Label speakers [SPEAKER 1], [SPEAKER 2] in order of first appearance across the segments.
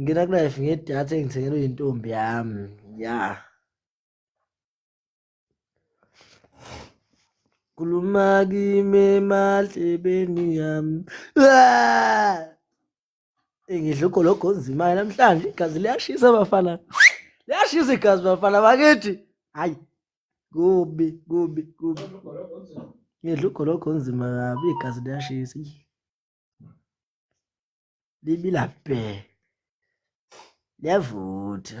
[SPEAKER 1] ngena kulife ngedatha engithengelwe yintombi yami ya kuluma kimi emadlebeni yami ah! ngidla ugologo onzimayo namhlanje igazi liyashisa bafana liyashisa igazi bafana bakithi hayi kubi kubi kubi ngidla ugologo onzima kabi igazi liyashisa libila bhe liyavutha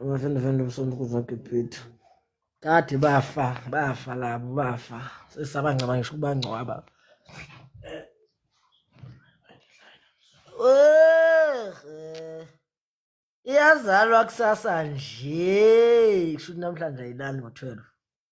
[SPEAKER 1] Abafende fende umsondo kuzonke ibhithi. Kade bafa, bafa labo, bafa. Sesabangcaba ngisho ukubangcwaba. Iyazalwa kusasa nje. Kusho ukuthi namhlanje ayilali ngo-12.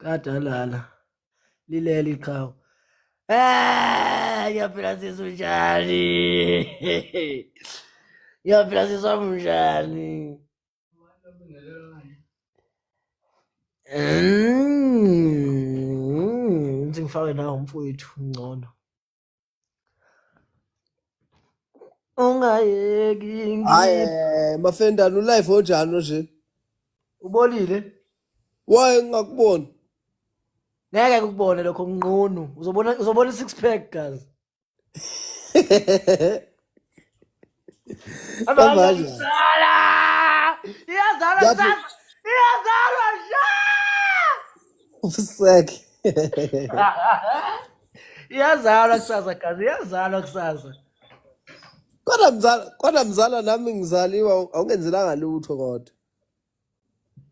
[SPEAKER 1] kade alala lileli iqhawe Ah, ngiyaphila sisi unjani? Ngiyaphila sisi wami unjani? Mm, ngifake nawo umfowethu ngcono. ungayeki ngi- hayi eh,
[SPEAKER 2] mafendane ulife onjani nje ubolile
[SPEAKER 1] waye
[SPEAKER 2] ngingakuboni
[SPEAKER 1] ngeke kukubone lokho nqunu uzobona uzobona i-six pack guys
[SPEAKER 2] Abazalwa Abanye. kudala!
[SPEAKER 1] Iyazalwa That kusasa! Iyazalwa mhla!
[SPEAKER 2] Sek. Iyazalwa
[SPEAKER 1] kusasa gazi, iyazalwa kusasa.
[SPEAKER 2] Kodwa mzala, kodwa mzala nami ngizaliwa awungenzelanga lutho kodwa.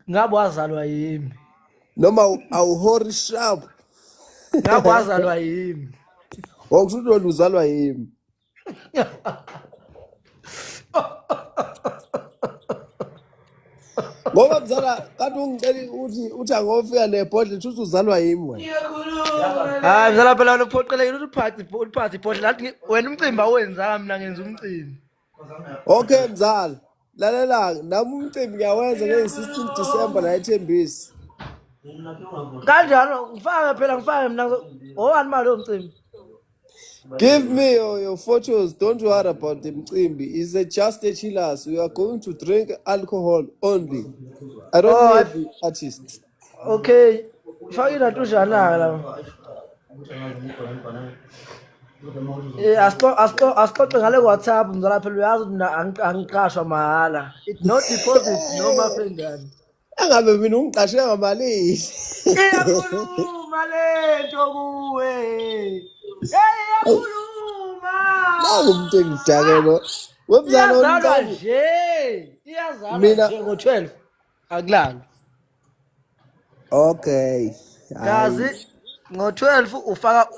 [SPEAKER 1] ngabe wazalwa yimi noma
[SPEAKER 2] awuhori sharp ngabe
[SPEAKER 1] wazalwa yimi wakusho ukuthi
[SPEAKER 2] wena uzalwa yimi ngoba mzala kanti ungicela ukuthi uthi angofika nebhodle shuthi uzalwa yimi wena hayi
[SPEAKER 1] mzala phela wena uphoqelekile ukuthi uphathe uphathe ibhodle lathi ngi- wena umcimbi awenzanga mina ngenza umcimbi Okay
[SPEAKER 2] mzala, lalela nami umcimbi ngiyawenza ngeyi-16 December la ethembisi. Kanjalo
[SPEAKER 1] ngifake phela ngifake mina ngowani mali lo mcimbi.
[SPEAKER 2] Give me your, your photos. Don't worry about the mcimbi. It's a just a chillers. We are going to drink alcohol only. I don't Oh, need the artist. Okay.
[SPEAKER 1] Fake na tujana la. Eh asixo asixo asixoxe ngale WhatsApp mzala phela uyazi mina angiqashwa mahala. It no deposit no mafengane. Angabe mina
[SPEAKER 2] ungiqashe ngamalini. Iyakhuluma
[SPEAKER 1] lento kuwe. Hey iyakhuluma. Naku
[SPEAKER 2] umuntu engidakelo. Wemzana Iyazalwa nje.
[SPEAKER 1] Iyazalwa Mina- nje ngo-12. akulali
[SPEAKER 2] okay kazi
[SPEAKER 1] ngo-12 ufaka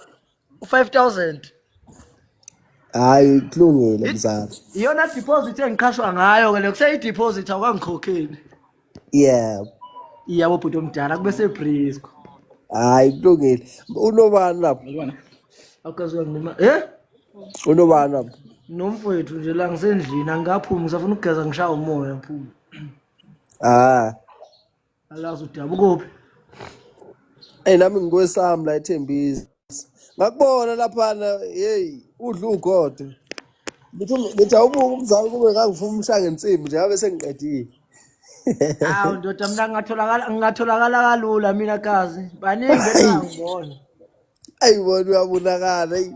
[SPEAKER 1] u-5000
[SPEAKER 2] hayi kulungile mzala iyona deposit
[SPEAKER 1] engiqhashwa ngayo ke le kuseyideposit awukangikhokheli
[SPEAKER 2] yeah iyabo
[SPEAKER 1] bhuti omdala kube sebrisco hayi
[SPEAKER 2] kulungile unobani lapho awukaziwa
[SPEAKER 1] noma eh
[SPEAKER 2] unobani lapho nomfowethu nje
[SPEAKER 1] la ngisendlini angaphumi ngisafuna ukugeza ngishaya umoya phuma Ah. Alazi udabukuphi.
[SPEAKER 2] Hey nami ngikwesami la ethembisi. Ngakubona laphana hey udla ugodo. Ngithi ngithi awubuke umzali kube ngangifuna umshange insimbi nje ngabe sengiqedile.
[SPEAKER 1] Awu ndoda mina ngingatholakala ngingatholakala kalula mina kazi. Baningi bengangibona. Ayi
[SPEAKER 2] wona uyabonakala. eyi.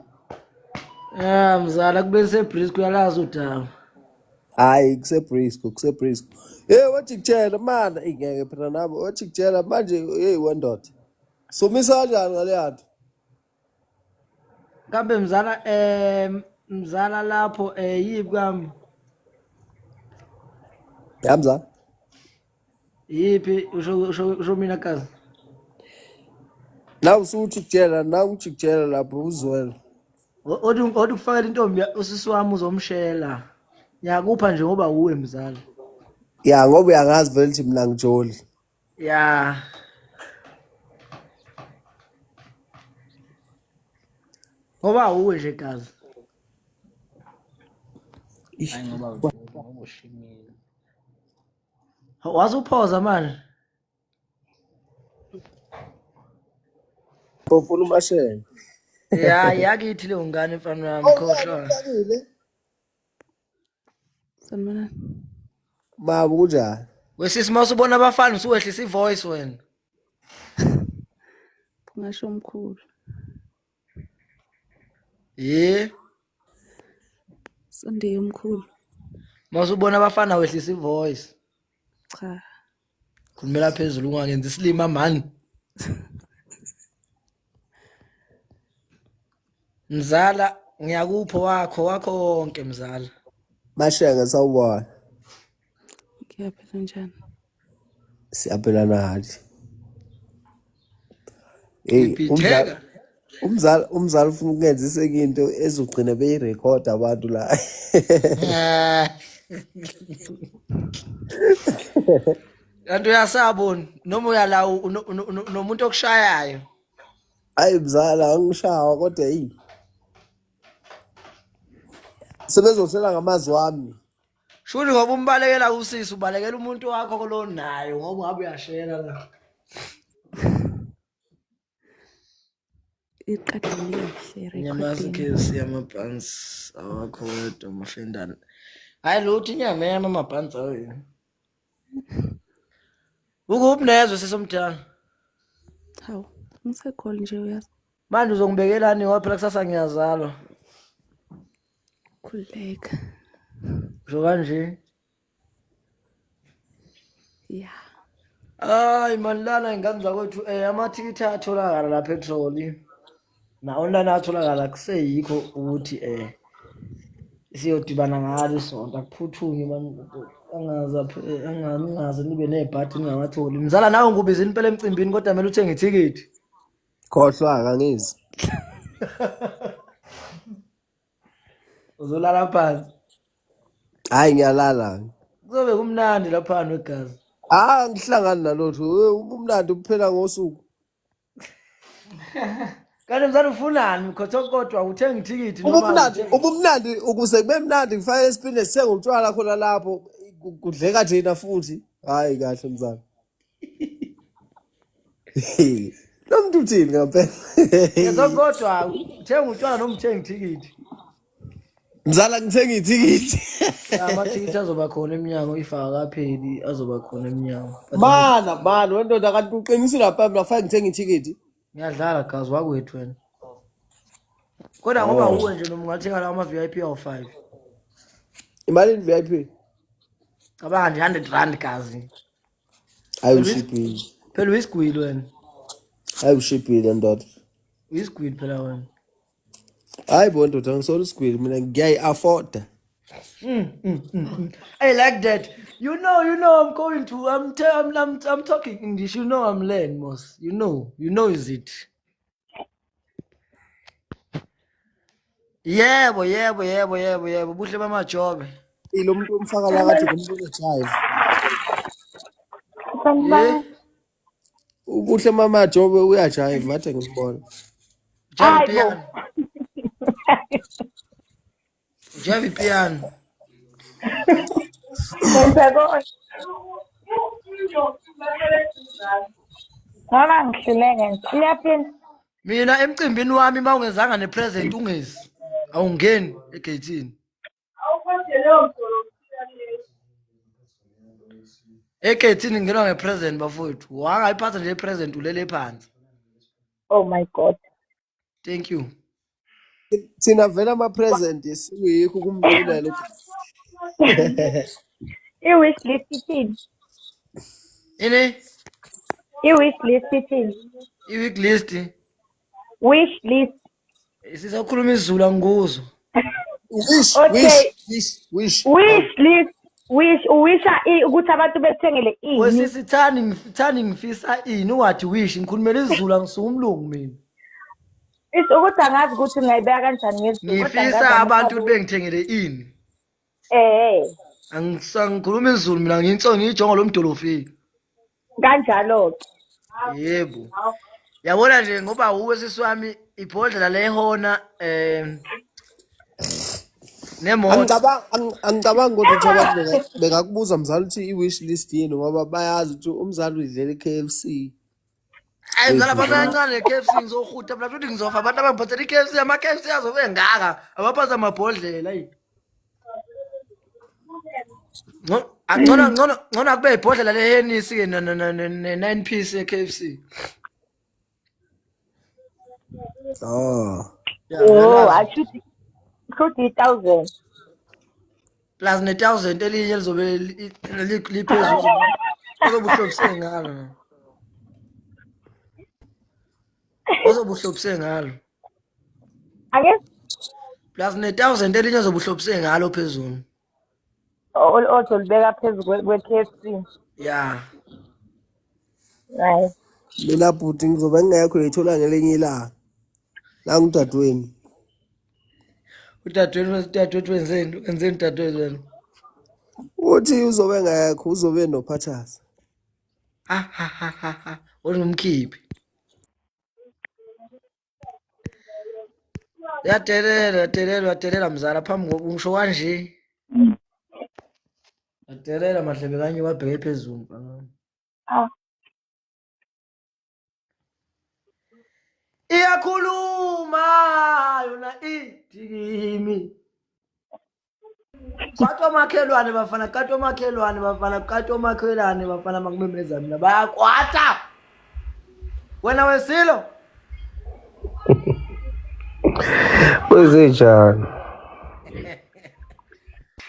[SPEAKER 2] Ah
[SPEAKER 1] mzala kube sebreeze kuyalazi udaba. Hayi
[SPEAKER 2] kuseBrisco, kuseBrisco. Hey wajikijela mana, eyi ngeke phela nabo wajikijela manje hey wendoda. Somisa kanjani ngale yanto?
[SPEAKER 1] Kambe mzala eh mzala lapho eh yibi kwami.
[SPEAKER 2] Yamza. Iyiphi
[SPEAKER 1] usho usho usho mina kazi.
[SPEAKER 2] Nawu usuthi kujela, nawu uthi kujela lapho uzwela. Othi
[SPEAKER 1] othi kufakela intombi ya- usisi wami uzomshela. Ngiyakupha nje ngoba uwe mzala. Ya ngoba
[SPEAKER 2] uyangazi vele ukuthi mina ngijoli. Ya.
[SPEAKER 1] Ngoba uwe nje kazi. Ish. Hayi ngoba ushimile. wasuphoza manje
[SPEAKER 2] Ufuna umashenge. ya
[SPEAKER 1] yakithi leyo ngane mfana wami Oh, khohlwa uqalile.
[SPEAKER 3] Sanibonani.
[SPEAKER 2] Baba kunjani? wesisi uma usubona
[SPEAKER 1] abafana usuwehlisa ivoice wena
[SPEAKER 3] Ngasho mkhulu. Ye. Sunday omkhulu. Masubona
[SPEAKER 1] abafana wehlisa ivoice. Cha. Khulumela phezulu ungangenzi isilima man. Mzala ngiyakupho wakho wakho konke mzala. Mashaka
[SPEAKER 2] sawubona.
[SPEAKER 3] Ngiyaphila njani?
[SPEAKER 2] Siyaphelana hathi. Hey, Ngibhitheka. umdlali umzali umzali ufuna ukungenza iseke into ezogcina beyirekhoda abantu la. Eh.
[SPEAKER 1] Kanti uyasabona noma uyala u- uno- uno- uno- unomuntu okushayayo. Hayi
[SPEAKER 2] mzala angishawa kodwa hey. Sebezohlela ngamazwi wami. Shuni ngoba
[SPEAKER 1] umbalekela usisi ubalekela umuntu wakho kolonayo ngoba ngabe uyashela la.
[SPEAKER 3] Inyamazi kesi
[SPEAKER 1] yamabhansi awakho wedwa mafendane. Hayi lutho inyama yami amabhansi awo yini. Ukuphi nezwe sesomdala?
[SPEAKER 3] Hawu, ngisekhole nje uyazi. Manje uzongibekelani
[SPEAKER 1] ngoba phela kusasa ngiyazalwa.
[SPEAKER 3] Khululeka. Usho
[SPEAKER 1] kanje?
[SPEAKER 3] Ya.
[SPEAKER 1] Hayi mani lana ingane zakwethu um amathikithi ayatholakala lapha etholi na-online atholakala kuseyikho ukuthi um siyodibana ngalo isonto akuphuthunywe mani angaze aph- eh, anga- ningaze nibe nebhadi ningawatholi mzala nawe ngikubizile impela emcimbini kodwa kumele uthenge ithikithi Khohlwa
[SPEAKER 2] kangizi.
[SPEAKER 1] uzolala phansi
[SPEAKER 2] hayi ngiyalala kuzobe kumnandi
[SPEAKER 1] laphana wegazi ah ngihlangani
[SPEAKER 2] nalotho Eh, ubumnandi uphela ngosuku
[SPEAKER 1] kanti mzane ufunani mkhothokotwa uthenga ithikithi noma ubumnandi awuthengi? ubumnandi
[SPEAKER 2] ukuze kube mnandi ngifake esipini sithenga utshwala khona lapho ku- kudleka thina futhi hayi kahle mzala lo muntu uthini ngempela Yezwa kodwa
[SPEAKER 1] uthenga utshwala noma uthenga ithikithi.
[SPEAKER 2] mzala ngithenga ithikithi Ya, Amathikithi
[SPEAKER 1] azoba khona emnyango if akapheli azoba khona emnyango. But mana mana
[SPEAKER 2] wendoda kanti uqinisile lapha mina kufanele ngithenge ithikithi ngiyadlala
[SPEAKER 1] gazi
[SPEAKER 2] wakwethu
[SPEAKER 1] wena.
[SPEAKER 2] Kodwa
[SPEAKER 1] ngoba Oh. uwe nje noma ungathenga lawo ama VIP awu 5.
[SPEAKER 2] imalini vip Cabanga
[SPEAKER 1] nje 100 rand gazi. Hayi
[SPEAKER 2] ushibhile. Phela
[SPEAKER 1] uyisigwili wena. Hayi
[SPEAKER 2] ushibhile ndoda. Uyisigwili phela
[SPEAKER 1] wena.
[SPEAKER 2] Hayi bo ndoda ngisolo isigwili mina ngiyayi afforda. Mm, mm, mm,
[SPEAKER 1] mm. I like that. You know, you know, I'm going to. I'm, te- I'm, I'm, I'm talking English. You know, I'm learning, Moss. You know, you know, is it? yebo yebo yebo yebo yebo buhle bamajobe ilo muntu
[SPEAKER 2] omfaka la kade kumbuzo jive Sanibona. ubuhle mama jobe uyajive mathe ngibona Hayi
[SPEAKER 1] bo. Jump, yeah. Njengoba ipiano. Ngenza konke.
[SPEAKER 4] Ngoba ngihluleke nje. Uyaphinda. Mina
[SPEAKER 1] emcimbini wami uma ungezanga nepresent ungezi. Awungeni egeyithini. Egeyithini ngingenwa ngepresent bafowethu. Wangayiphatha nje ipresent ulele phansi. Oh
[SPEAKER 4] my God. thank you
[SPEAKER 2] thina vele ama-present sikuyikho ukumbulela
[SPEAKER 4] i-wish list ithini
[SPEAKER 1] ini
[SPEAKER 4] i-wish list ithini i-week list
[SPEAKER 1] wish
[SPEAKER 4] list sisakhuluma
[SPEAKER 1] isizulu angikuzwa
[SPEAKER 2] Wish, Okay. wish, wish, wish.
[SPEAKER 4] wish list wish uwisha i- ukuthi abantu bekuthengele ini wesisi thani ngif- thani
[SPEAKER 1] ngifisa ini ungathi wish ngikhulumela izulu angisuke umlungu mina Is-
[SPEAKER 4] ukuthi angazi ukuthi ngingayibeka kanjani ngezulu kodwa ngifisa ngazi abantu ukuthi
[SPEAKER 1] bengithengele ini eh Angisa- ngikhuluma izulu mina ngiyinso ngiyijongo lomdolofini
[SPEAKER 4] kanjalo-ke yebo
[SPEAKER 1] yabona nje ngoba wuwe sisi wami ibhodlela lehona um nemoto Angicabanga ang- angicabanga
[SPEAKER 2] ukuthi ukuthi abantu benga- bengakubuza mzali ukuthi i-wish list yini ngoba bayazi ukuthi umzali uyidlela i-KFC.
[SPEAKER 1] ayi mzala abantu abancane k f c ngizohuta mna futhi ngizofa abantu abangiphathela i-k f c ama-k f c azobe engaka abaphatha amabhodlela ayi Ngco- Angcono ngcono ngcono akube ibhodlela lehenisi ke ne- ne- ne- ne- ne 9 piece ye KFC.
[SPEAKER 4] Oh. Yeah, Oh,
[SPEAKER 1] ngiyalazi. ashuthi shuthi i-thousand. Plus ne 1000 elinye lizobe li- li- liphezulu. Ozobuhlobise ngalo. Ozobuhlobise ngalo.
[SPEAKER 4] ake
[SPEAKER 1] plus ne-thousand elinye ozobuhlobise ngalo phezulu ol- ozolibeka
[SPEAKER 4] phezu kwe- kwe-KFC ya
[SPEAKER 1] hayi
[SPEAKER 4] mina bhuti
[SPEAKER 2] ngizobe ngingekho uyithola ngelinye ilanga nangu udadewenu
[SPEAKER 1] udadewethu udadewethu wenzeni wenzeni udadewethu wena
[SPEAKER 2] uthi uzobe ngekho uzobe nophathasa ha ha ha ha
[SPEAKER 1] ha olungumkhiphi uyadelela uyadelela uyadelela mzala phambi koku ngisho kanje Mm. uyadelela madlebe kanye wabheke phezulu mfana wami. Ah. iyakhuluma yona idikimi Kati omakhelwane bafana, kati omakhelwane bafana, kati omakhelwane bafana makumemeza mina bayakwata. Wena wesilo.
[SPEAKER 2] Kwezenjani?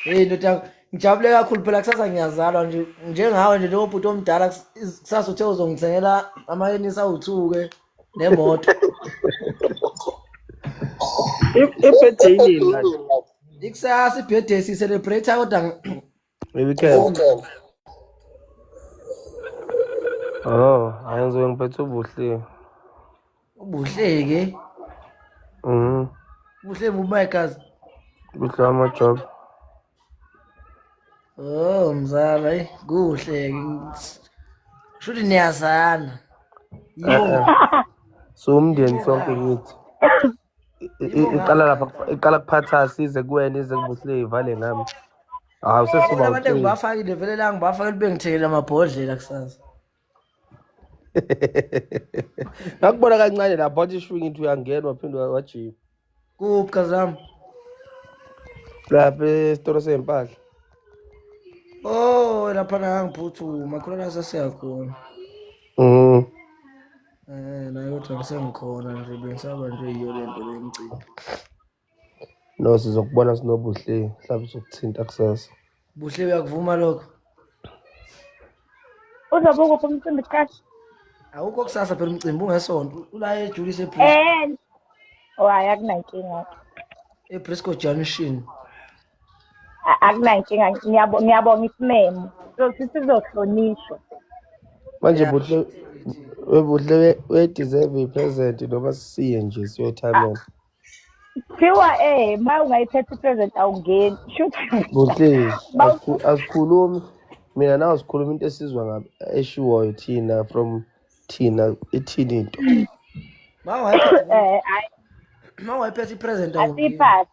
[SPEAKER 1] Hey ndoda ngijabule kakhulu phela kusasa ngiyazalwa nje njengawe nje njengoba ubhuti omdala kusasa uthe uzongithengela amayenisa uthuke. nemoto
[SPEAKER 2] ibhedhe yini ikusasa
[SPEAKER 1] ibhedhe sicelebrate kodwa
[SPEAKER 2] weekend oh ayenziwe ngiphethe ubuhle ubuhle ke
[SPEAKER 1] mhm ubuhle mumakazi buhle
[SPEAKER 2] ama job
[SPEAKER 1] Oh mzala, eyi kuhle shuthi niyazana. Yebo.
[SPEAKER 2] Siwumndeni sonke kithi. I- i- Iqala lapha iqala kuphatha size kuwena ize kubusile ivale ngami. Hawu sesiba Abantu uqili. engibafakile
[SPEAKER 1] vele la ngibafakile bengithengele amabhodlela kusasa.
[SPEAKER 2] ngakubona kancane lapho wathi ishwi ngithi uyangena waphinde wajima kuphi
[SPEAKER 1] kazami
[SPEAKER 2] lapha esitolo sey'mpahla
[SPEAKER 1] o oh, lapha nangangiphuthuma khona nasasiyakhona um mm. um eh, nayo kodwa ngisengikhona nje bengisaba nje yiyo le nto le mcimbi
[SPEAKER 2] No sizokubona sinobuhle mhlawumbe sokuthinta kusasa. Buhle uyakuvuma
[SPEAKER 1] lokho.
[SPEAKER 4] Uzobe ukuphi umcimbi kusasa? Awukho
[SPEAKER 1] kusasa phela umcimbi ungesonto. Ula ejulise eBrisco. Eh. Oh,
[SPEAKER 4] hayi akunankinga. EBrisco
[SPEAKER 1] Junction. A-
[SPEAKER 4] Akunankinga. Ngiyabo- Ngiyabonga isimemo. Sothi sizohlonishwa.
[SPEAKER 2] Manje Yeah. buhle webuhle uye deserve i present noma siye nje siyothamela.
[SPEAKER 4] Kuthiwa eh ma ungayiphetha i-present awungeni. Shuthi Buhlezi,
[SPEAKER 2] Bawu- asikhu- asikhulumi mina nawe sikhuluma into esizwa ngabe eshiwoyo thina from thina ithini into Ma ungayiphetha eh hayi
[SPEAKER 1] ma ungayiphetha i-present awungeni. asiphathi.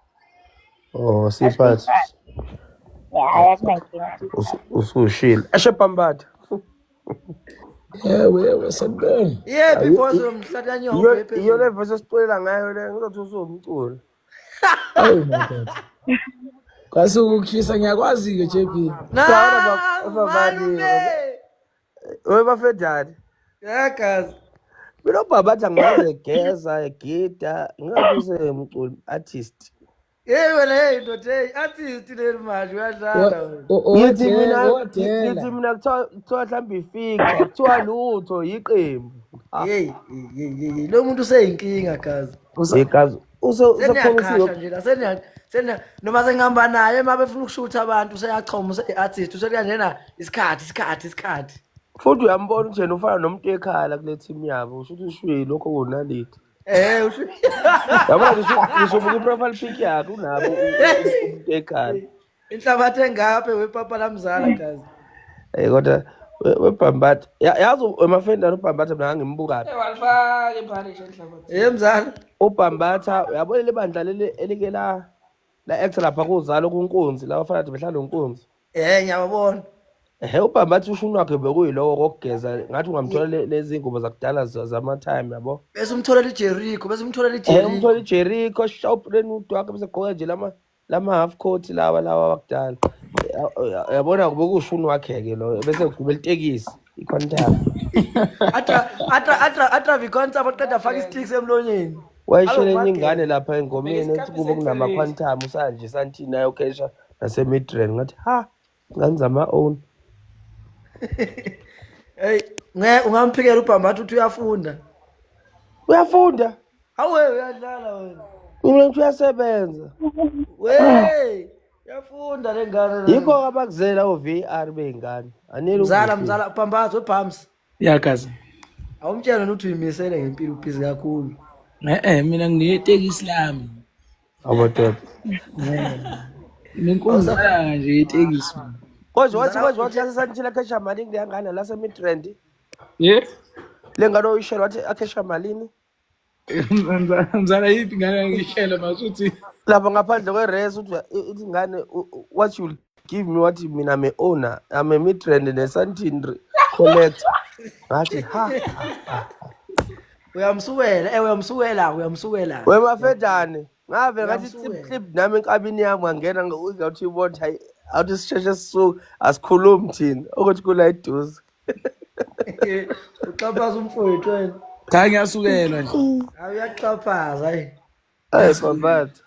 [SPEAKER 4] oh
[SPEAKER 2] siphathi Yeah,
[SPEAKER 4] hayi akunankinga. usu- usushile
[SPEAKER 2] eshe pambatha
[SPEAKER 1] Ewe ewe sanibona. Yephi boss mhlata nyoko Iyo yephi. iyo le voice
[SPEAKER 2] esiculela ngayo le ngizothi usumculo. Awu
[SPEAKER 1] my god. Kwase ukukhisa ngiyakwazi ke JP. Na Sawona bab- babali. malume.
[SPEAKER 2] Owe bafedani. Yeah guys.
[SPEAKER 1] Mina
[SPEAKER 2] ubaba athi angaze egeza egida ngingabise umculi artist. Hey wena hey
[SPEAKER 1] ndoda hey artist leli manje uyadlala wena. Ngithi mina
[SPEAKER 2] Odela. ngithi mina kuthiwa kuthiwa mhlawumbe ifixa kuthiwa lutho yiqembu. Ah, Hey
[SPEAKER 1] hey hey hey lo muntu useyinkinga kazi. Usa Yekazi
[SPEAKER 2] use usekhona Seniyaqhasha
[SPEAKER 1] usuku nje la seniya seniya noma sengihamba naye uma befuna ukushutha abantu useyachoma useyi-artist useya njena isikhathi isikhathi isikhathi. futhi
[SPEAKER 2] uyambona ukuthi yena ufana nomuntu ekhala kule team yabo usho ukuthi ushwile lokho kunaliti. Eh, usho. Yabona ngisho ngisho buku profile pic yakhe unabo umuntu ekhala. Inhlabathi
[SPEAKER 1] engaphe wepapa lamzala kazi. Eh kodwa
[SPEAKER 2] webhambatha yazi emafendana ubhambatha mina ngangimbuka phi walifaka imphane nje
[SPEAKER 1] enhlabathi eh mzala ubhambatha
[SPEAKER 2] uyabo leli bandla leli elike la la act lapha kuzalo kunkunzi la bafana behlala nonkunzi Eh ngiyabona.
[SPEAKER 1] Ehe ubamba
[SPEAKER 2] athi ushuni wakhe bekuyilowo kokugeza ngathi ungamthola le- lezi ngubo zakudala za- zama time yabo. Bese umtholela iJericho,
[SPEAKER 1] bese umtholela Eh umthola
[SPEAKER 2] iJericho. iJericho shop renut wakhe bese gqoka nje lama lama half coat lawa lawa wakudala. Ya- ya- Yabona bekushuni wakhe ke lo bese ugibela itekisi iquantum. Atra atra
[SPEAKER 1] atra atra vikonta abaqeda afaka isticks emlonyeni. Wayishela enye
[SPEAKER 2] ingane lapha engomeni ethi kubo kunama quantum usanje santini nayo kesha naseMidrand ngathi ha ngani zama own
[SPEAKER 1] hey nge ungamphikela ubhambatha uthi uyafunda uyafunda awe uyadlala wena mina ngithi
[SPEAKER 2] uyasebenza we uyafunda
[SPEAKER 1] le ngane yikho abakuzela
[SPEAKER 2] o-var bey'ngane anele mzala mzala ubhambatha
[SPEAKER 1] webhams yakazi
[SPEAKER 3] awumtshela
[SPEAKER 1] nokuthi uyimisele ngempilo ubhizi kakhulu e-e mina
[SPEAKER 3] nginetekisi lami Abadala. Nenkonzo nje itekisi. Kodwa wathi
[SPEAKER 2] kodwa wathi lasesantshila khesha malini leyangane lase midrand. Yeah. Lengane oyishela wathi akhesha malini?
[SPEAKER 3] Mzala yipi ngane ngishela masuthi. Lapha ngaphandle
[SPEAKER 2] kwe race uthi ingane what you give me wathi mina me owner I'm a midrand nesantindri collect ngathi ha ha, ha. uyamsukela
[SPEAKER 1] eh uyamsukela uyamsukela wemafedane
[SPEAKER 2] ngave ngathi Uyamsukela. clip clip nami enkabini yami wangena ngawuthi ibona hayi awuthi sisheshe sisuke asikhulumi thina ukuthi kula eduze
[SPEAKER 1] uxhaphaza umfowethu wena Cha ngiyasukelwa
[SPEAKER 3] nje. hayi uyaxhaphaza
[SPEAKER 1] hayi Ay
[SPEAKER 2] babathu.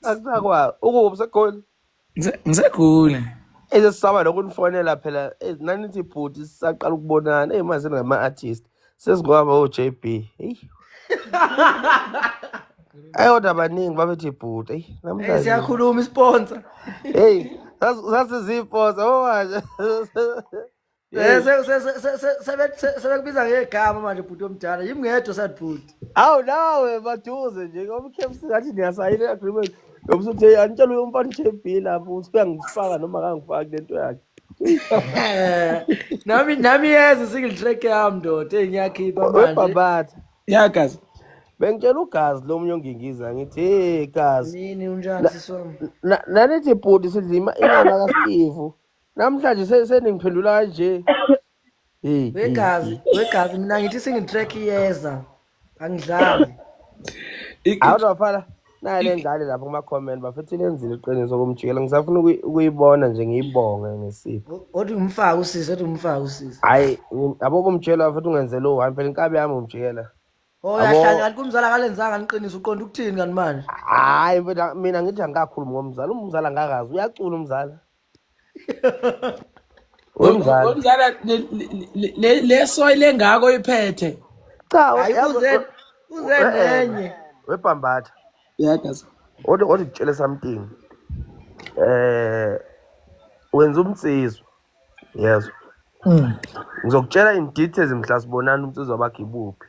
[SPEAKER 2] Akusakwazi. Ukuphi segoli? Ngise- Ngisegule.
[SPEAKER 3] Ese sisaba
[SPEAKER 2] nokunifonela phela eh, nanithi bhuti sisaqala ukubonana eyi manje nama artist sesingaba o JB hey ayodwa abaningi babethi bhuti hey Hey namhlanje siyakhuluma isponsor.
[SPEAKER 1] hey
[SPEAKER 2] sasiziposa oh manje Eh, se- se- se- se-
[SPEAKER 1] se- sebe- se- sebekubiza ngegama manje bhuti omdala yimi ngedwa sad bhuti Awu nawe
[SPEAKER 2] maduze nje ngoba uKFC ngathi niyasayina agreement. Ngoba uthi hey angitshela uyo mfana JB lapho uthi uyangifaka noma akangifaki lento yakhe.
[SPEAKER 1] nami nami yeze single track yami ndoda eyi ngiyakhipha manje Webhabhatha. ya
[SPEAKER 2] gazi
[SPEAKER 3] Bengitshela
[SPEAKER 2] ugazi lo munye ongingiza ngithi hey gazi. nini unjani
[SPEAKER 1] sisi wami Na- Nanithi
[SPEAKER 2] bhuti sidlima imali kaSteve. Namhlanje se- seningiphendula kanje. Hey, hey, hey.
[SPEAKER 1] wegazi wegazi mina ngithi singi track iyeza angidlali I- i- Hawu bafana naye
[SPEAKER 2] le ngane lapho kuma comment bafethu lenzile iqiniso kumjikela ngisafuna ukuyi- ukuyibona nje ngiyibonge ngesipho. O- othi ngimfake usisi
[SPEAKER 1] othi ngimfake usisi Hayi ngi-
[SPEAKER 2] yabo kumjikela bafethu ungenzela uhambe phela inkabi yami umjikela. oh Yabo. yahlanya
[SPEAKER 1] kanti kumzala kalenzanga niqiniso uqonda ukuthini kanti manje Hayi mfethu
[SPEAKER 2] mina ngithi angikakhulumi ngomzala umzala ngakazi uyacula umzala.
[SPEAKER 3] Wemzala. Wemzala le- le- le- le soy lengako iphethe. Cha, Hayi
[SPEAKER 2] yazi- uze
[SPEAKER 1] uze Eh, eh, nenye. webhambatha
[SPEAKER 2] Yakaza.
[SPEAKER 3] othi othi kutshele
[SPEAKER 2] something eh wenza umnsizwa yezwa Mm. ngizokutshela in details mhla sibonana umnsizwa bakhe ibuphi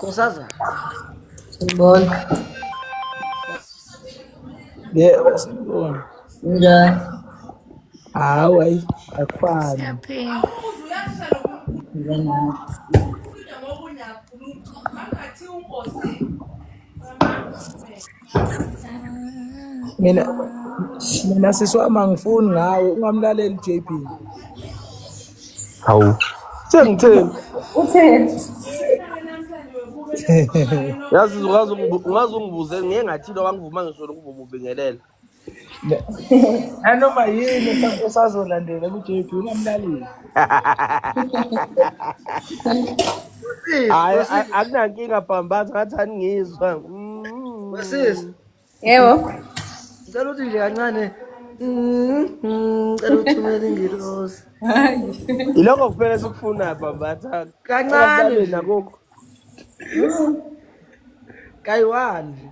[SPEAKER 1] Kusaza.
[SPEAKER 4] Sibona.
[SPEAKER 3] Yebo sibona.
[SPEAKER 4] Njani?
[SPEAKER 3] Hawu ayi akufani. Siyaphila. Njani? mina mina sisi wami angifuni ngawe ungamlaleli JP hawu
[SPEAKER 2] sengitheni utheni yazi ungaze ungibuze ngeke ngathi lo wangivuma ngisho lokububingelela
[SPEAKER 3] nanoma yini esa- esazolandela ku-jp ungamlaleli
[SPEAKER 2] Wesisi, hayi a- wesisi, akunankinga bhambaza ngathi aningizwa Mm. wesisi.
[SPEAKER 1] Yebo.
[SPEAKER 4] Ngicela ukuthi
[SPEAKER 1] nje kancane. Mm, mm, Ngicela ukuthumela ingilosi. Hayi.
[SPEAKER 2] ilokho kuphela esikufunayo bhambaza Kancane ungamlaleli
[SPEAKER 1] nje. nakukho kayiwani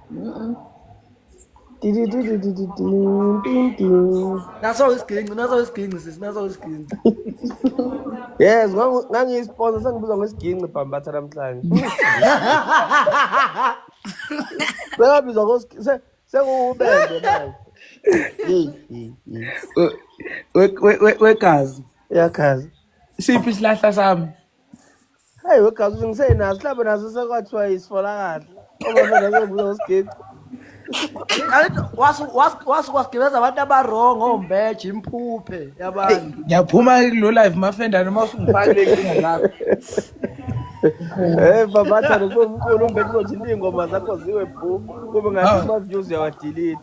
[SPEAKER 1] naso isiginci naso isiginci sisi naso isiginci
[SPEAKER 2] yes ngangiyisponsa sengibuza ngesiginci bhambatha namhlanje sengabizwa sengubende manje wegazi
[SPEAKER 3] uyagazi
[SPEAKER 2] siphi isilahla
[SPEAKER 3] sami Hey,
[SPEAKER 2] wegazi ukuthi ngisenaso mhlawumbe naso sekwathiwa isifola kahle uma phela sekubuza usigeci Angithi wasu
[SPEAKER 1] wasu wasu kwasigibeza abantu abarong ombeje imphuphe yabantu. ngiyaphuma kulo
[SPEAKER 3] live mafenda noma usungifakile inkinga zakho Eh
[SPEAKER 2] babatha nokuba umkhulu umbe kuzothi ingoma zakho ziwe bhu kube ngathi Hawu. ama views yawadelete.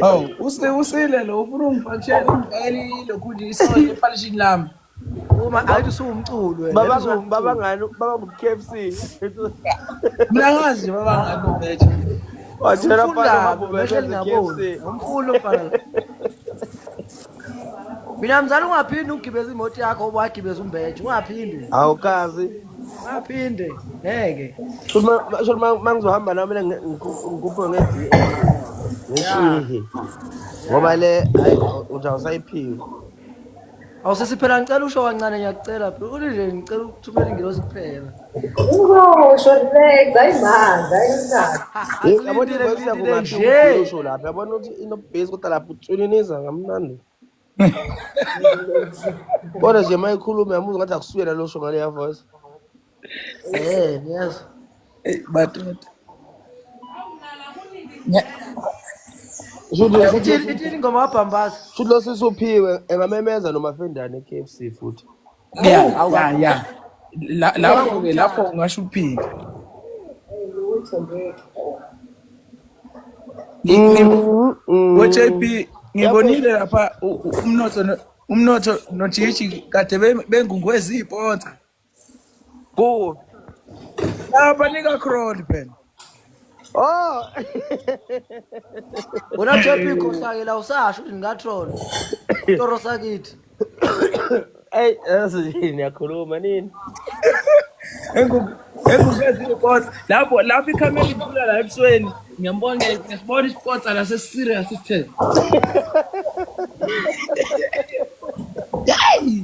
[SPEAKER 2] hawu
[SPEAKER 3] use- usile lo ufuna ungifakishele ungifakele lokhu nje isonto ephalishini lami Uma ayithi
[SPEAKER 1] suwumculo wena. Baba ngo baba ngani baba ngo
[SPEAKER 2] KFC.
[SPEAKER 3] Mina ngazi baba ngani ubethe. Watshela
[SPEAKER 2] phala baba ubethe
[SPEAKER 1] KFC. Umfundo phala. Mina mzali ungaphindi ugibeza imoto yakho wagibeza umbeje ungaphindi. Awukazi.
[SPEAKER 2] Ungaphinde
[SPEAKER 1] ngeke. Uma uma
[SPEAKER 2] mangizohamba nami mina ngikuphe ngezi. Ngishihi. Ngoba le ayi uthi awusayiphiwe.
[SPEAKER 1] Awusisi phela ngicela usho kancane ngiyakucela bro. Uthi nje ngicela ukuthumela ingilosi kuphela. Uzosho
[SPEAKER 4] next ayimanje ayimanje. Yabona Ngilindile, ukuthi
[SPEAKER 2] ngilindile kuba nje. usho lapha. Yabona ukuthi inobase kodwa lapha utswininiza ngamnandi. Kodwa nje mayikhuluma yamuzwa ngathi akusuyena lo sho ngale ya voice. Eh,
[SPEAKER 1] niyazwa. Hey, but nya- Shuthi
[SPEAKER 3] Eh,
[SPEAKER 1] shuthi Ithini ithini ingoma wabhambaza. shuthi lo sisi uphiwe
[SPEAKER 2] engamemeza nomafendane e-KFC futhi. ya Awu, Hawu ya kakhulu. ya La- Uzoba
[SPEAKER 3] lapho ke lapho ngomthatha. ungasho uphike Ngi- ngi- Mm, mm. ngo-jb Yabona ngibonile lapha u- u- umnotho no- umnotho nojiji kade be- bengungweza iy'ponsa
[SPEAKER 2] Kuwe.
[SPEAKER 3] Ah, banika crony phela. Oh.
[SPEAKER 1] Wena Jeppe ikhohlake la usasho ukuthi ngatroll. Toro sakithi.
[SPEAKER 2] Ey, yini yakhuluma nini? Engu
[SPEAKER 3] engukazile kodwa lapho lapho ikhamera ikhula la ebusweni. Ngiyambona ngisibona isipotsa la se serious isithele.
[SPEAKER 2] Hey!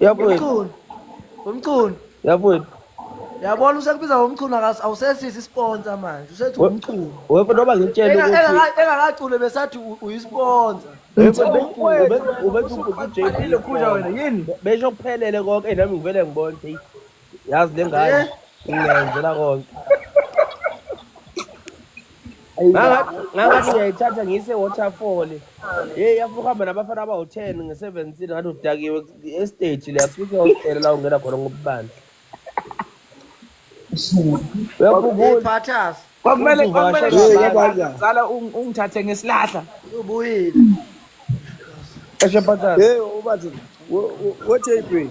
[SPEAKER 1] Yabuyela.
[SPEAKER 2] Umchunu.
[SPEAKER 1] Umchunu. Yabuyela.
[SPEAKER 2] Yabona
[SPEAKER 1] usekubiza ngomchunu akas- awusesisi isponsa manje usethi We- umchunu. Wepho noba ngitshele
[SPEAKER 2] Enga- ukuthi enga- Engakacule besathi
[SPEAKER 1] u- uyisponsa. wepho Mthembu bethi-
[SPEAKER 3] mfowethu, ube- wena ubethi usuke uJB ufanele
[SPEAKER 2] khona. khona wena, yini? Besho kuphelele konke nami ngivele ngibone. yazi le ngane ngiyenzela konke ngangathi ngiyayithatha ngiyise waterfall ye yafuna ukuhamba nabafana abawu-ten nge-seventeen ngathi udakiwe estage le asifike hostela la ungena khona ngobubandla kwakumele
[SPEAKER 3] kwakumelezala ungithathe ngesilahla
[SPEAKER 1] ubuyile eshe
[SPEAKER 2] phathas hey
[SPEAKER 5] ubathi wethe ipini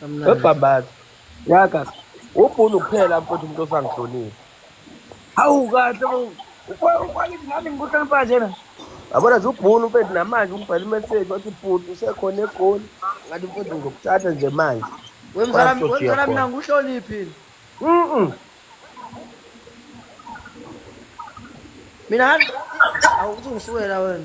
[SPEAKER 1] Kamnandi.
[SPEAKER 2] webhambaza yagas
[SPEAKER 3] ubhunu
[SPEAKER 2] kuphela mfowethu umuntu osangihlonile Hawu
[SPEAKER 3] kahle bo. Ufa- Ufakithi nami ngikuhlonipha njena. yabona nje ubhunu
[SPEAKER 2] mfowethu namanje ungibhela imeseji wathi bhuti usekhona egoli ngathi mfowethu ngizokuthatha nje manje We mzala Kwasho we jiya
[SPEAKER 1] mzala mina khona. ngihloniphile. Mm-mm. Mina awuthi ngisukela wena.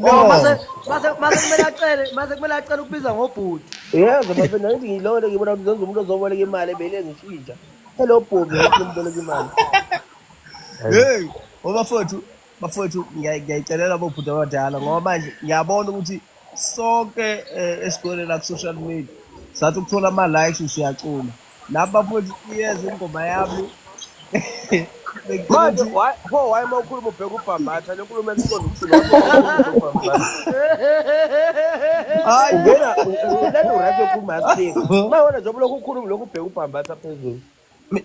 [SPEAKER 1] No, mase mase mase kumele acele, mase kumele acele ukubiza ngobhuti. Yebo bafethu
[SPEAKER 2] nangithi ngilole ngibona ukuthi zenza umuntu ozoboleka imali ebele ngishintsha. Hello Bobby ngathi ngimboleka imali. Hey.
[SPEAKER 5] Hey, obafowethu, bafowethu ngiya- ngiyayicelela bobhuti abadala ngoba manje ngiyabona ukuthi sonke eh, esigcwele la ku-social media sathi ukuthola ama-likes usiyacula nabo bafowethu iyeza ingoma yami manje
[SPEAKER 2] pho waye uma ukhuluma ubheka ubhambatha le nkulumo eliqonda ukusuauyena ukhuluma uma wena njengoba lokhu ukhuluma lokhu ubheka ubhambatha phezulu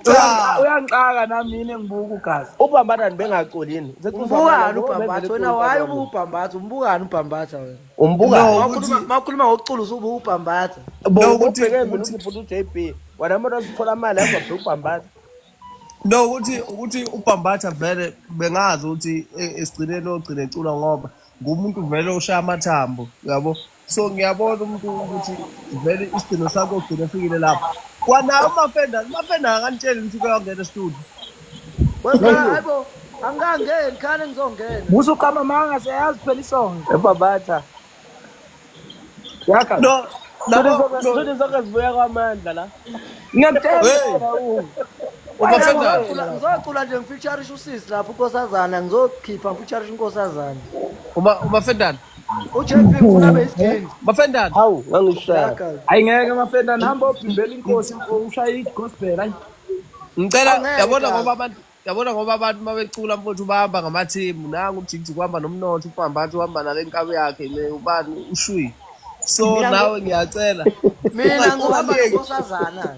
[SPEAKER 2] Cha,
[SPEAKER 3] uyangixaka nami yini engibuka ugazi. Ubhambatha bengaculi
[SPEAKER 2] yini? Umbukani
[SPEAKER 1] ubhambatha wena waye ubuka ubhambatha, umbukani ubhambatha wena. Umbuka. Wakhuluma
[SPEAKER 2] makhuluma ngokucula
[SPEAKER 1] usubuka ubhambatha. Bo ukuthi ukuthi
[SPEAKER 2] futhi uJB, wena umuntu osithola imali yakho bheka ubhambatha. No
[SPEAKER 5] ukuthi ukuthi ubhambatha vele bengazi ukuthi e, esigcineni ogcine ecula ngoba ngumuntu vele oshaya amathambo, yabo. so ngiyabona umuntu ukuthi vele isidingo sakho ugcine efikile lapho kwanayo umafenda umafenda akanitsheli ukuthi kuyongena estudio
[SPEAKER 1] wesabo angangeni khane ngizongena musa uqama manga
[SPEAKER 3] siyayazi phela isonto ebabatha yaka no
[SPEAKER 2] Sudi zonke zibuya kwamandla la. Ngiyakutshela
[SPEAKER 3] u.
[SPEAKER 1] Ngizocula nje ngifeaturisha usisi lapho unkosazana ngizokhipha ngifeaturisha unkosazana. Uma uma
[SPEAKER 5] fendana. uJP
[SPEAKER 1] ufuna abe isigeni Bafendana. Hawu
[SPEAKER 5] ngangihlala.
[SPEAKER 2] Yaka. Hayi ngeke
[SPEAKER 3] bafendana hamba obhimbela inkosi mfo ushaya igospel hayi. Ngicela Angeke.
[SPEAKER 5] yabona ngoba abantu yabona ngoba abantu uma becula mfowethu bahamba ngamathimu nangu ujigijig uhamba nomnotho ubhambathi uhamba nale nkabi yakhe le ubani ushuyi so Mina ngo- nawe ngiyacela mina Unga- ngihamba
[SPEAKER 1] ungayeki. nonkosazana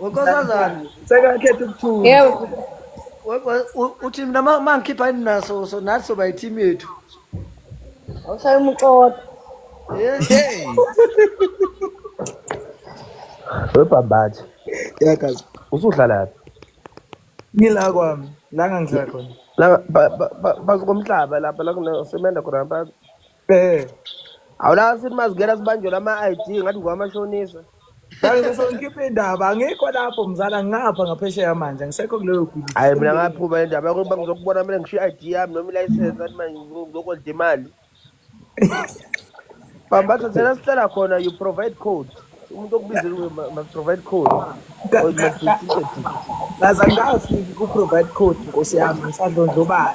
[SPEAKER 3] wenkosazana
[SPEAKER 4] sekakhetha
[SPEAKER 3] ukuthula
[SPEAKER 1] yebo uthi mina uma ngikhipha yini naso so nathi soba yithimu yethu
[SPEAKER 4] awushaya umuxoda
[SPEAKER 5] webhambathi yakazi
[SPEAKER 2] usudlalaphi
[SPEAKER 5] ngila
[SPEAKER 3] kwami la ngangihlala khona la
[SPEAKER 5] phansi komhlaba lapha la kunesemenda khona Eh, awulazi ukuthi mazingena sibanjwe lama-id ngathi ngowamashonisa Manje sase
[SPEAKER 3] ngikhiphe indaba angikho lapho mzala ngingapha ngaphesheya manje angisekho kuleyo bhizi hhayi mina sengibuyile. ngaphuma le
[SPEAKER 5] ndaba yokuthi bangizokubona mina ngishiye i-id yami noma ilayisensi athi manje ngizokolda imali bam bathi thina sihlala khona you provide code umuntu okubizile ukuthi ma- must provide code Ka- or it ka- must be ka- ticketed Ngaze
[SPEAKER 3] angikafiki ku-provide code nkosi yami ngisadlondlobala.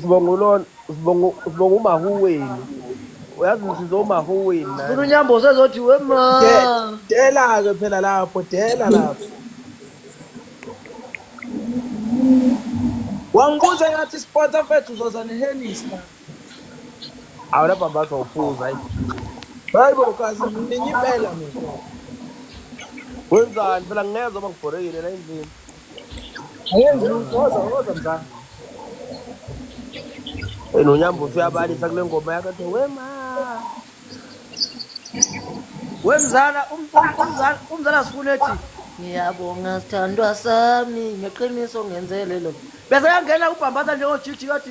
[SPEAKER 5] sibonga ulona sibonga umahuweni uyazi ngisize umahuweni funa unyambo usezothi
[SPEAKER 1] wema dela-ke phela
[SPEAKER 3] lapho dela lapho wangibuza ngathi isipota fethu uzoza nehenisa
[SPEAKER 5] awu lapha mbazo uphuza hayi hayi bo
[SPEAKER 3] kazi ninye impela mina wenzani
[SPEAKER 5] phela ngingezwa uma ngibhorekile la endlini
[SPEAKER 3] Ayenzi lutho oza oza mzansi.
[SPEAKER 5] Hey nonyambo usuyabalisa kule ngoma yakhe athi wema.
[SPEAKER 1] Wemzala um- um- umzala umzala sifuna ethi ngiyabonga sithandwa sami ngeqiniso ngenzelelo. Bese yangena ubhambatha njengojiji kathi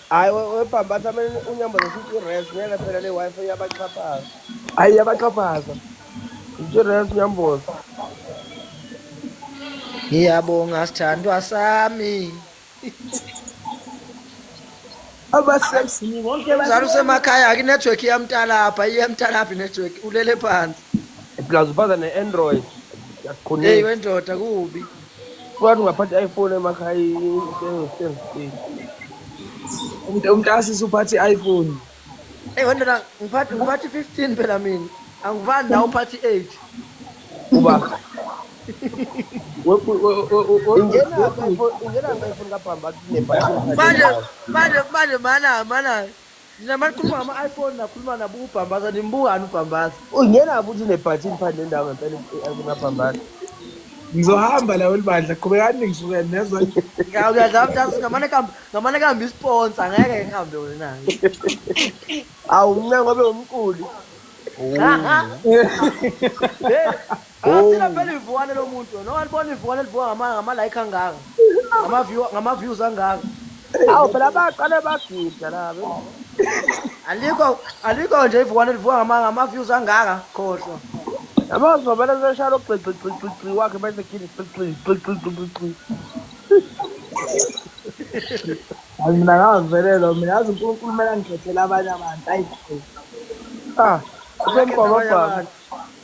[SPEAKER 5] Hayi we- webhambatha
[SPEAKER 3] amane unyamboza futhi i-res
[SPEAKER 5] ngeke phela le Wi-Fi iyabaxhaphaza. Hayi yabaxhaphaza.
[SPEAKER 1] Futhi i-res unyamboza. Ngiyabonga sithandwa sami.
[SPEAKER 3] Abasexy ni bonke Mzala bathi usemakhaya ke
[SPEAKER 1] network iyamtalapha, iyamtalapha network ulele phansi. Plus ubaza
[SPEAKER 5] ne-Android. Hey Yaqhunisa.
[SPEAKER 1] wendoda kubi. Kwathi ungaphatha
[SPEAKER 5] i-iPhone emakhaya itengo stengo stengo.
[SPEAKER 3] Umuntu umntasi suphatha i-iPhone. Ey wena la
[SPEAKER 1] ngiphathi ngiphathi 15 phela mina. Angivani nawe uphathi 8. Uba.
[SPEAKER 5] Ingena iPhone ingena iPhone kabhamba kune battery. Manje
[SPEAKER 1] manje manje mana mana Nina manikhuluma ngama-iPhone nakhuluma nabuka ubhambaza nimbukani ubhambaza. Ungena futhi
[SPEAKER 5] unebhathi ngiphandle ndawo ngempela kunabhambaza.
[SPEAKER 3] Ngizohamba la welibandla qhubekani ningisuke nezwa. Ngiyadlala mthatha
[SPEAKER 1] ngamane kambe ngamane kambe isponsor ngeke ngihambe wena.
[SPEAKER 5] Awu mncengo obe umquli. Hey.
[SPEAKER 1] Akasile phela ivukane lo muntu wena walibona ivukane elivuka ngama ngama like angaka. Ngama view ngama views angaka. Awu phela
[SPEAKER 5] baqale bagida la bela. Alikho
[SPEAKER 1] alikho nje ivukane elivuka ngama ngama views angaka khohlwa. Yabo zobela
[SPEAKER 5] zeshaya lo gxi gxi gxi gxi wakhe bese khini gxi gxi gxi gxi gxi gxi.
[SPEAKER 3] Hayi mina ngavelelo mina yazi uNkulunkulu mela ngikhethela abanye abantu ayi. Ah.
[SPEAKER 5] Usemqoka baba.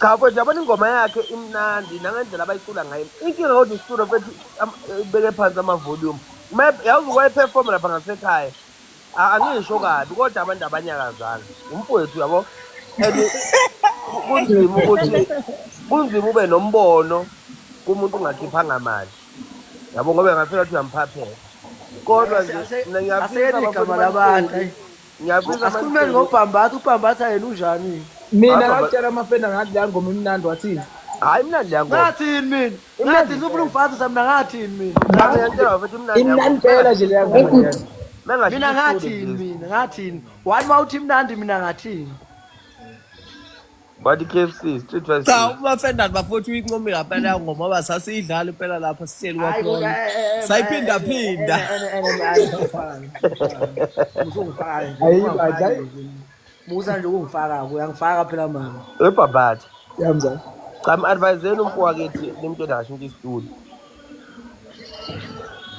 [SPEAKER 3] Cha mfethu yabona
[SPEAKER 5] ingoma yakhe imnandi nangendlela abayicula ngayo. Inkinga kodwa istudio mfethu am- ibeke phansi ama volume. Uma yazi kwaye perform lapha ngasekhaya. A- Angisho kabi kodwa abantu abanyakazanga. Umfowethu yabo. And ku- kunzima ukuthi kunzima ube nombono kumuntu ungakhiphanga mali. Yabo ngoba ngafika ukuthi uyamphaphela. Kodwa nje mina ngiyafisa Aseyeni abafowethu igama labantu. balifunde.
[SPEAKER 1] Ngiyabuza Asikhulumeni
[SPEAKER 5] ngobhambatha,
[SPEAKER 1] ubhambatha yena unjani? Mina Hapha, ba- ngakutshela
[SPEAKER 3] amafenda ngathi leya ngoma imnandi wathini. Hayi mna leya ngoma.
[SPEAKER 5] Ngathini mina?
[SPEAKER 1] Ngathini ngifuna ungifazisa mina ngathini mina? Ngathi ngiyantshela bafethu mna leya
[SPEAKER 5] ngoma. Imnandi phela nje leya
[SPEAKER 3] ngoma. Mina ngathi Mina istudio, ngathini please.
[SPEAKER 1] mina? Ngathini? Wani wawuthi imnandi mina ngathini?
[SPEAKER 5] Badi KFC, Street Vice. Cha uma Fernand bafowethu
[SPEAKER 2] uyincomile ngempela yawo ngoma ba sasiyidlala impela lapha sihleli kwakhona. Sayiphinda phinda. Musa
[SPEAKER 1] nje ukungifaka uyangifaka phela mama. Ebhabhathi.
[SPEAKER 5] Yamza.
[SPEAKER 3] Cha advise
[SPEAKER 5] yenu mfowethu nimuntu enasho into istudio.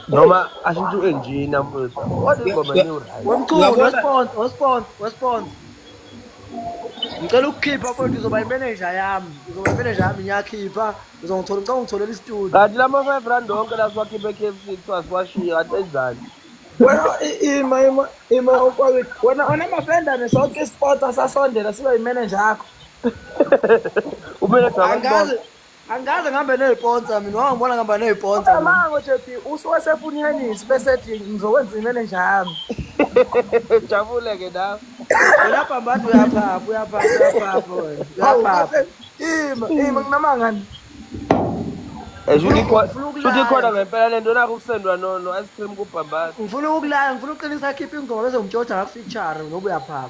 [SPEAKER 5] noma ashintshe u-enjina mfowethu kodwa ingoma new right Wemchunu, Uyabona? wespons,
[SPEAKER 1] wespons, wespons. Ngicela ukukhipha mfowethu uzoba imeneja yami. Uzoba imeneja yami ngiyakhipha. Uzongithola ngicela ungitholele istudio. kanti lama five rand
[SPEAKER 5] onke la siwakhiphe e-k f c kuthiwa siwashiye kanti enzani wena i-
[SPEAKER 3] ima ima ima ukwawini wena onamafendane sonke isipotsa sasondela siba yimeneja yakho umeneja
[SPEAKER 5] Angazi Angikaze
[SPEAKER 1] ngihambe neziponsa mina wangibona ngihamba neziponsa. mina. Amango JB
[SPEAKER 3] usuwasefunyanisi bese ethi ngizokwenza imele njalo.
[SPEAKER 5] Jabule ke nawe. Wena bhambantu uyaphapha
[SPEAKER 1] uyaphapha uyaphapha wena. Hawu Uyaphapha. kahle. Ima ima
[SPEAKER 3] nginamanga ni. Eh, Shuthi
[SPEAKER 5] ikhona shuthi ikhona ngempela lento nakho ukusendwa no no ice cream kubhambana. Ngifuna ukulala ngifuna
[SPEAKER 1] uqinisa akhiphe ingoma bese ngimtshotha ngafixture ngoba uyaphapha.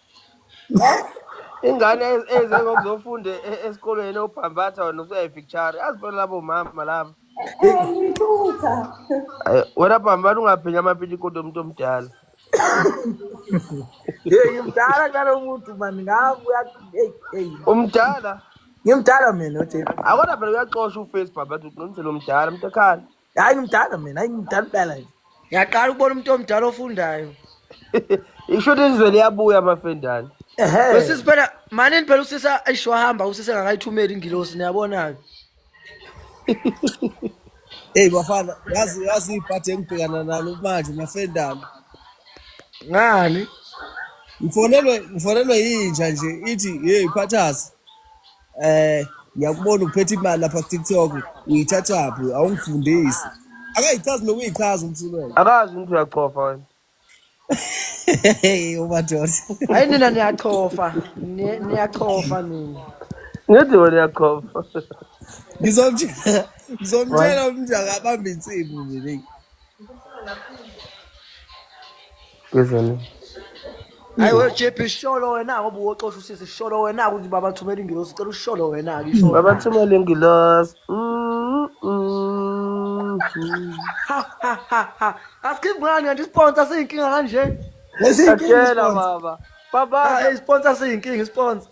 [SPEAKER 5] ingane eze ngokuzofunda e- e- esikolweni obhambatha wena usuyayificture azi phela labo mama laba Eh, ngithutha.
[SPEAKER 6] Ayi,
[SPEAKER 5] wena bhambana ungaphinya amapitikoti omuntu omdala
[SPEAKER 3] Hey, ngimdala ngalo muntu man ngaku hey hey.
[SPEAKER 5] umdala Ngimdala
[SPEAKER 3] mina oJay. akodwa phela uyaxosha
[SPEAKER 5] uface bhambata uqinisele umdala mntakhala hayi ngimdala mina hayi
[SPEAKER 3] ngimdala impela nje ngiyaqala ukubona umuntu
[SPEAKER 1] omdala ofundayo
[SPEAKER 5] isho ukuthi izwe liyabuya amafendane ehe usisi phela
[SPEAKER 1] manini phela usisi ayisho wahamba usisi engakayithumeli ingilosi niyabona-ke
[SPEAKER 2] eyi bafana yazi yazi ibhadi engibhekana nalo manje mafendane
[SPEAKER 1] ngani ngifonelwe
[SPEAKER 2] ngifonelwe yinja nje ithi yeyi phathasi Eh ngiyakubona uphethe imali lapha ku TikTok uyithathaphi awungifundisi. Akayichazi nokuyichaza umsulelo. akazi umuntu uyachofa
[SPEAKER 5] wena Hey
[SPEAKER 2] umadoda. hayi nina
[SPEAKER 1] niyachofa Ni- niyachofa nina ngithi wena
[SPEAKER 5] uyachofa Ngizomtshela
[SPEAKER 2] ngizomtshela umnjaka abambe insimu mina.
[SPEAKER 5] Ngizweni.
[SPEAKER 1] Hayi we JP sholo wena ngoba uwoxosha usisi sholo wena ukuthi baba thumela ingilosi sicela usholo wena ke sholo. Baba thumela ingilosi.
[SPEAKER 5] Mm, mm, mm. Ha ha ha
[SPEAKER 1] ha. Asikhibi ngani kanti sponsor siyinkinga kanje. Atshela
[SPEAKER 5] baba. Baba. Baba, sponsor siyinkinga
[SPEAKER 1] sponsor.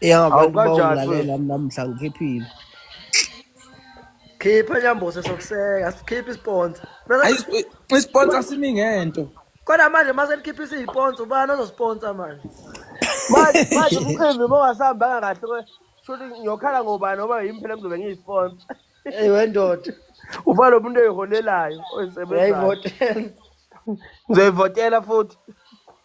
[SPEAKER 1] Ya
[SPEAKER 2] abantu Awukanjani bawulalela
[SPEAKER 1] futhi? namhla
[SPEAKER 2] ngiphephile.
[SPEAKER 1] Khipha nyambose sokuseka, sikhipha isponsa. Ayi
[SPEAKER 3] isp- isponsor
[SPEAKER 1] simi
[SPEAKER 3] ngento. Kodwa manje mase
[SPEAKER 1] likhipha isiyiponsa ubani ozosponsa manje? Manje
[SPEAKER 2] manje umcimbi uma ungasahambanga kahle kwe shuthi ngiyokhala ngobani ngoba yimi phela ngizobe ngiyisponsa. Hey wendoda,
[SPEAKER 1] Uba lo muntu
[SPEAKER 2] eyiholelayo oyisebenzayo. uyayivotela. Ngizoyivotela futhi.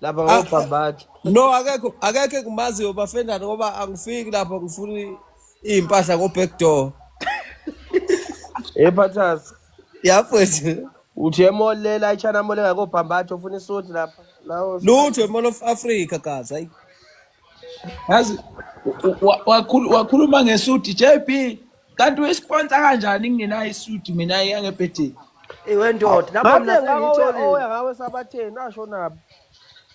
[SPEAKER 1] lapha
[SPEAKER 2] Ah, ngobhambatha no akekho akekho engimaziyo bafendane ngoba angifiki lapho ngifuna iy'mpahla ngo-back door ephathas yafethu uthi emolela ichina mole ngakobhambatha ufuna isuthi lapha nawo lutho imall of africa gaza
[SPEAKER 3] yazi wakhuluma ngesuti jb kanti uyisponsor kanjani ngingenayo isuti mina yangebhedeni iwe ndoda
[SPEAKER 1] lapho mina sengiyitholile ngawe sabatheni
[SPEAKER 2] asho nabo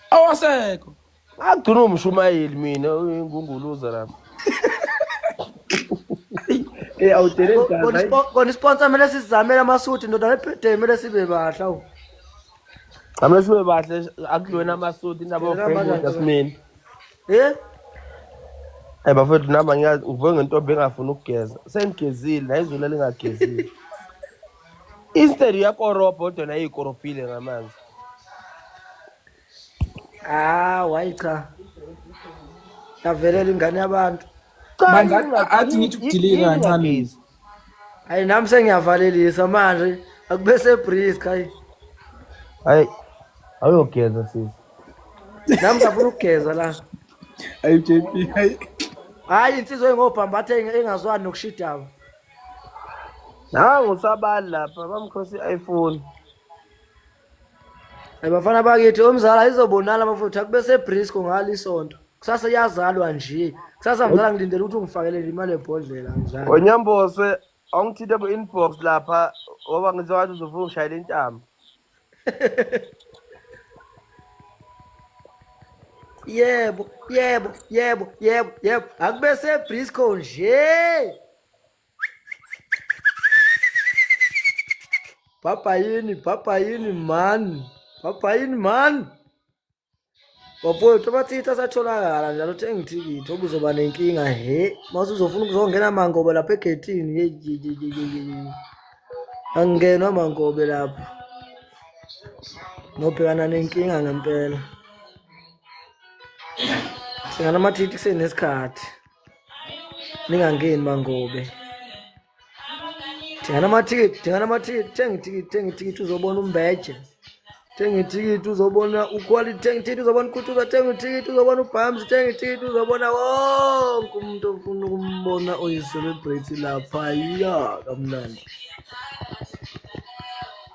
[SPEAKER 2] awasekho
[SPEAKER 3] ngagcina
[SPEAKER 2] umshumayeli mina uyingunguluza lapho Eh awudeleni gazi. Kona sponsor mele
[SPEAKER 1] sizamele amasuthi ndoda ebhedeni mele sibe bahle awu. Ngamle
[SPEAKER 2] sibe bahle akudlweni amasudi indaba yofreewood asimeni. Eh? Hey bafethu nami angiyazi ngivuke ngentombi engafuni ukugeza. Sengigezile la izulu elingagezile. Instead uyakorobha kodwa naye ikorobhile ngamanzi.
[SPEAKER 1] Ah, wayi cha. Yavelela ingane yabantu. Cha, Manje, yini nga-
[SPEAKER 3] athi yini- ngithi yini- ukudilika yini kancane. ngagezi? Hayi
[SPEAKER 1] nami sengiyavalelisa manje akube sebrisk hayi. Hayi
[SPEAKER 2] awuyogeza sisi. Nami
[SPEAKER 1] ngafuna ukugeza la. Hayi JP
[SPEAKER 3] hayi. Hayi insizwa
[SPEAKER 1] engobhambatha engazwani nokushidaba. Nangu
[SPEAKER 2] sabali lapha bamkhosi iPhone.
[SPEAKER 1] Hey bafana bakithi omzala izobonala bafowethu akube sebrisco ngalo isonto kusasa iyazalwa nje kusasa mzala ngilindele ukuthi ungifakelele imali yebhodlela njalo Onyambose
[SPEAKER 2] awungithinte ku inbox lapha ngoba ngizwa ngathi uzofuna ungishayela intamo.
[SPEAKER 1] yebo yebo yebo yebo yebo akube sebrisco nje Papa yini, papa yini man. Papa yini man. Bafowethu abathitha asatholakala njalo thenga ithikithi okuzoba nenkinga he mase uzofuna ukuzongena amangobe lapha egethini angingenwa amangobe lapha nobhekana nenkinga ngempela singanamathiti kusenesikhathi ningangeni mangobe thengani amathikithi thengani amathikithi thenga ithikithi thenga ithikithi uzobona umbeje thenga ithikithi uzobona uquality thenga ithikithi uzobona ukhuthuza thenga ithikithi uzobona ubhams thenga ithikithi uzobona wonke umuntu ofuna ukumbona oyiselebrate lapha ya kamnandi